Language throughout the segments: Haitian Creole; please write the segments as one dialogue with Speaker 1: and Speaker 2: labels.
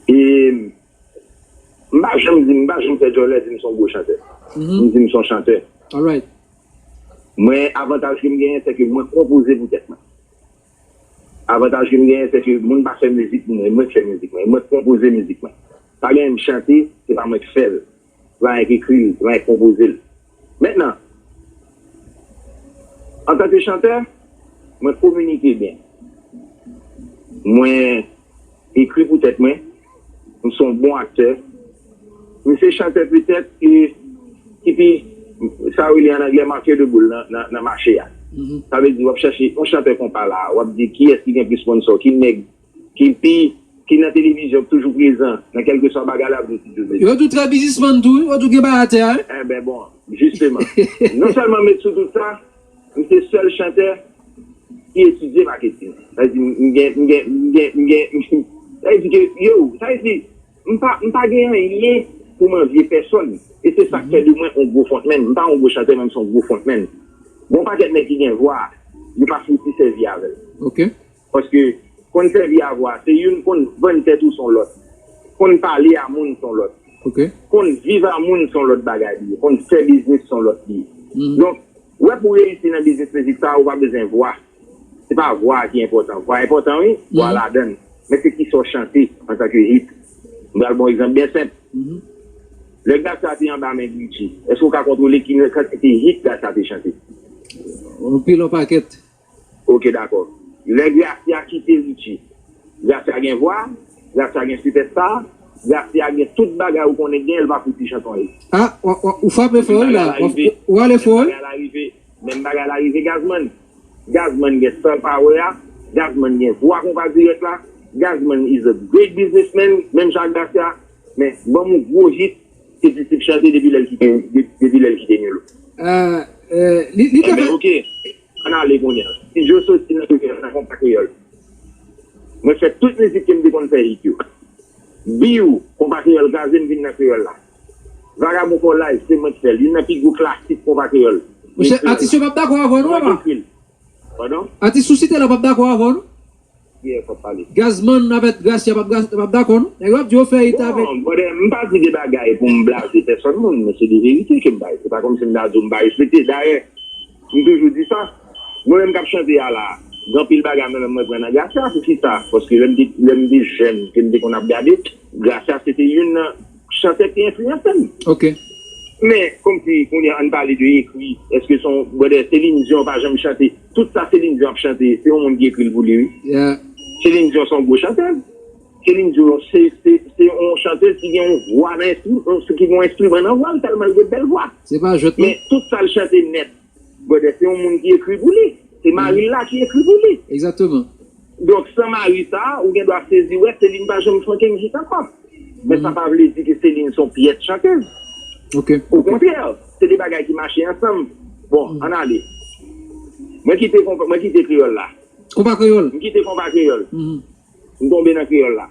Speaker 1: E m pa janm di, m pa janm fè djòlè di m son gwo chantè. M di m son chantè.
Speaker 2: Mwen
Speaker 1: avantaj ke m genyen se ke mwen konpoze pou tèt mwen. Avantaj ke m genyen se ke moun pa fè mizik pou mwen, e mwen k fè mizik mwen. E mwen k konpoze mizik mwen. Pa genyen m chante, se pa mwen k fè l. Pran èk ekri l, pran èk konpoze l. Mentnan, antanke chantè, mwen kominike byen. Mwen ekri pou tèt mwen. M se yon bon aktè. M se chantè petèt ki ki pi, sa yo rele an anglè manquer de boule nan nan mache a. Sa vle di w ap chache yon chantè konpa la a, w ap di kiyès ki gen plis sponsò, ki nèg. Kipi, ki nan televizyon, ki toujou prezan nan kèlkeswa bagay l ap di, toujou di. Yo tou trè
Speaker 2: bizismann tou wi, yo tou gen bay atè a wi. Enben bon,
Speaker 1: jisteman. Non sèlman met sou tout sa, m se sèl chantè ki etidye maketing. Sa vle di m gen, m gen, m gen, m gen, sa vle di ke yo, sa vle di m pa, m pa gen anyen pou m anvye pèsòn. E se sa k fè de mwen yon gwo frontman. M pa yon gwo chantè men m se yon gwo frontman. Gen yon pakèt nèg ki gen vwa, yo pa fouti sèvi avè l. Ok.
Speaker 2: Paske
Speaker 1: konn sèvi a vwa se youn konn vann tèt ou son lòt. Konn pale a moun son lòt. Konn
Speaker 2: viv a
Speaker 1: moun son lòt bagay li ye. Konn fè biznis son lòt li ye. Donk, wè pou reyisi nan biznis mizik sa a ou pa bezwen vwa. Se pa vwa a ki enpòtan. Vwa enpòtan wi, vwa a ladan l. Men se kisa w chante antanke hit. M ba l bon egzanp byen senp. Lè Gassa te anba men Gucci, èske ou ka kontwole ki kantite hit Gassa te chante? Anpil
Speaker 2: anpakèt. Ok dakò.
Speaker 1: Lè Gracia kite Richie. Gracia gen vwa, Gracia gen sipèsta, Gracia gen tout bagay ou konnen gen l pa fouti chanton l. Ah ou
Speaker 2: frape fò wi la, ou ale fò wi. Menm
Speaker 1: bagay la rive Gazman. Gazman gen star power a, Gazman gen vwa konpa dirèk la, Gazman is a great businessman menm jan ak Gracia men banm yon gwo hit ke Disip chante depi lè l kite Nilo. Li te fè. Enben ok. An n ale kounye a. Ti Jo soti nan kote a nan konpa kreyòl. Mwen fè tout mizik ke m te konn fè it yo. Biw, konpa kreyòl kraze m vin nan kreyòl la. Vagabon fò laj, se mwen k fè l. Youn nan pi gwo klasik konpa kreyòl. Monchè, atis yo p
Speaker 2: ap dakò avè w non apa? Mwen k ekri l. Padon?
Speaker 1: Atis sou site la
Speaker 2: p ap dakò avè w non?
Speaker 1: Gazman avèk
Speaker 2: Gracia pap dakò non. Nèg yo ap di yo fè it avèk. Bon brother m pa di de
Speaker 1: bagay pou m blaze pèsòn moun men se de verite ke m bay. Se pa kòmsi m ta di w m pa respekte. Dayè m toujou di sa mwen menm k ap chante a la gen anpil bagay mwen menm mwen pran nan Gracia. Poukisa? Paske lè m te lè m te jèn ke m te konn ap gade Gracia se te youn nan chantè k te enfliyanse m. Ok.
Speaker 2: Men
Speaker 1: kòmsi kounye a an n pale de ekri. Èske se yon brother Céline Dion pa janm chante? Tout sa Céline Dion ap chante se yon moun ki ekri l pou li wi. Céline
Speaker 2: Dion se yon
Speaker 1: gwo chantèz. Céline Dion se yon chantèz ki gen yon vwa nan ki gen yon enstriman nan vwa l tèlman l gen bèl vwa. Se pa jwèt non. Men
Speaker 2: tout sa l chante
Speaker 1: nèt brother se yon moun ki ekri pou li. Se mari l la ki ekri pou li. Exactement.
Speaker 2: Donk san
Speaker 1: mari sa, ou gen dwa sezi wè Céline pa janm chante mizik ankò. Men sa pa vle di ke Céline se yon pyès chantez.
Speaker 2: Okontrè,
Speaker 1: se 2 bagay ki mache ansanm. Bon, ann ale. Mwen kite konpa, mwen kite kreyòl la. Konpa kreyòl. M
Speaker 2: kite konpa kreyòl.
Speaker 1: M tonbe nan kreyòl la.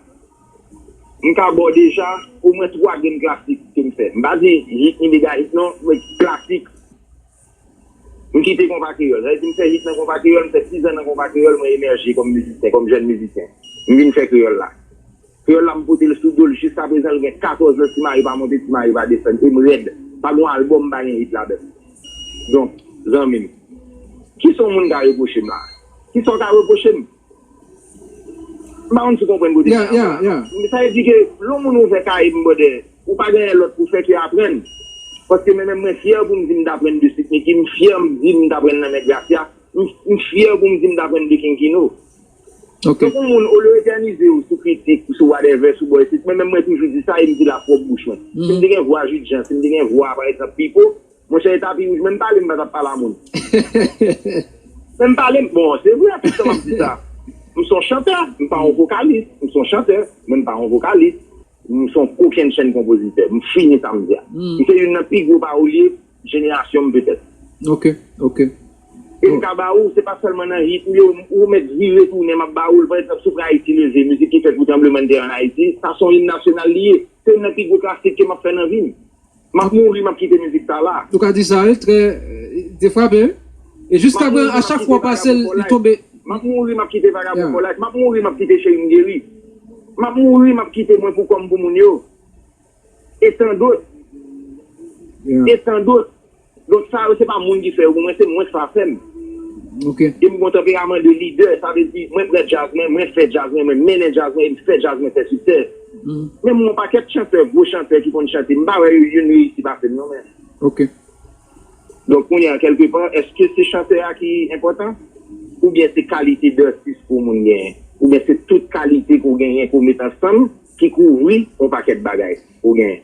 Speaker 1: M ka ba w deja omwen 3 grenn klasik ke m fè. M pa di Ritmi Mega Hit non, men klasik. M kite konpa kreyòl. Sa vle di m fè hit nan konpa kreyòl, m fè 6 an nan konpa kreyòl, mwen emèje kòm mizisyen, kòm jèn mizisyen. M vin fè kreyòl la. Kreyòl la m pote l sou do l jiska prezan l gen 14 lan ti mari pa monte ti mari pa desann e m rèd. Pa gon albòm m pa gen hit ladan l. Donk zanmi m, kisa w moun ka repwoche m la a? Kisa w ka repwoche m? M pa konn si w konprann kote m ye a la. Sa vle di ke lè yon moun ouvè kaye m brother, ou pa genyen lòt pou fè ke aprann. Paske mwen menm mwen fyè pou m di m t aprann de Sweet Micky, m fyè m di m t aprann nan men Gracia, m fyè pou m di m t aprann de King Kino. Donk yon moun olye w etènize w sou kritik, sou whatever, sou bò isit, mwen menm mwen toujou di sa e m di l a pwòp bouch mwen. Si m te gen vwa Jude Jean, si m te gen vwa pa egzanp Pipo, Monchè e tapi wouj menm pale m pa tap pale a moun menm pale m bon se vre tout tan map di sa m son chantè m pa yon vokalis m son chantè men m pa yon vokalis m son kokenn chenn konpozitè m fini sa m di a m se youn nan pi gwo pawolye jenerasyon m petèt e m ka ba ou se pa sèlman nan hit ou yo ou mèt vire tounen map ba ou l pa egzanp soufle ayiti leve mizik ki fèt pou tranblemann tè an ayiti sa son im nasyonal li ye se youn nan pi gwo klasik ke map fè nan vi m Map mouri map kite mizik sa la. Ou ka di sa wi trè
Speaker 2: de frape wi e jiska prezan a chak fwa ou pasel li tonbe.
Speaker 1: Map
Speaker 2: mouri
Speaker 1: map kite vagabon
Speaker 2: fò
Speaker 1: like map mouri map kite cherim geri map mouri map kite mwen pou kòm pou moun yo e tandot e tandot. Donk sa yo se pa moun ki fè yo pou mwen se mwen sa fè m. E
Speaker 2: m gon tanperaman
Speaker 1: de lidè sa vle di mwen pran djaz mwen, mwen fè djaz mwen, mwen mennen djaz mwen e m fè djaz mwen fè siksè. Men m wè yon pakèt chantè, gwo chantè ki konn chante m pa wè yo youn reyisi pase m non men. Donk kounye a kèlke pa èske se chantè a ki enpòtan? Oubyen se kalite dètis ke yon moun genyen? Oubyen se tout kalite ke w genyen ke w met ansanm ki kouvri yon pakèt bagay ke w genyen?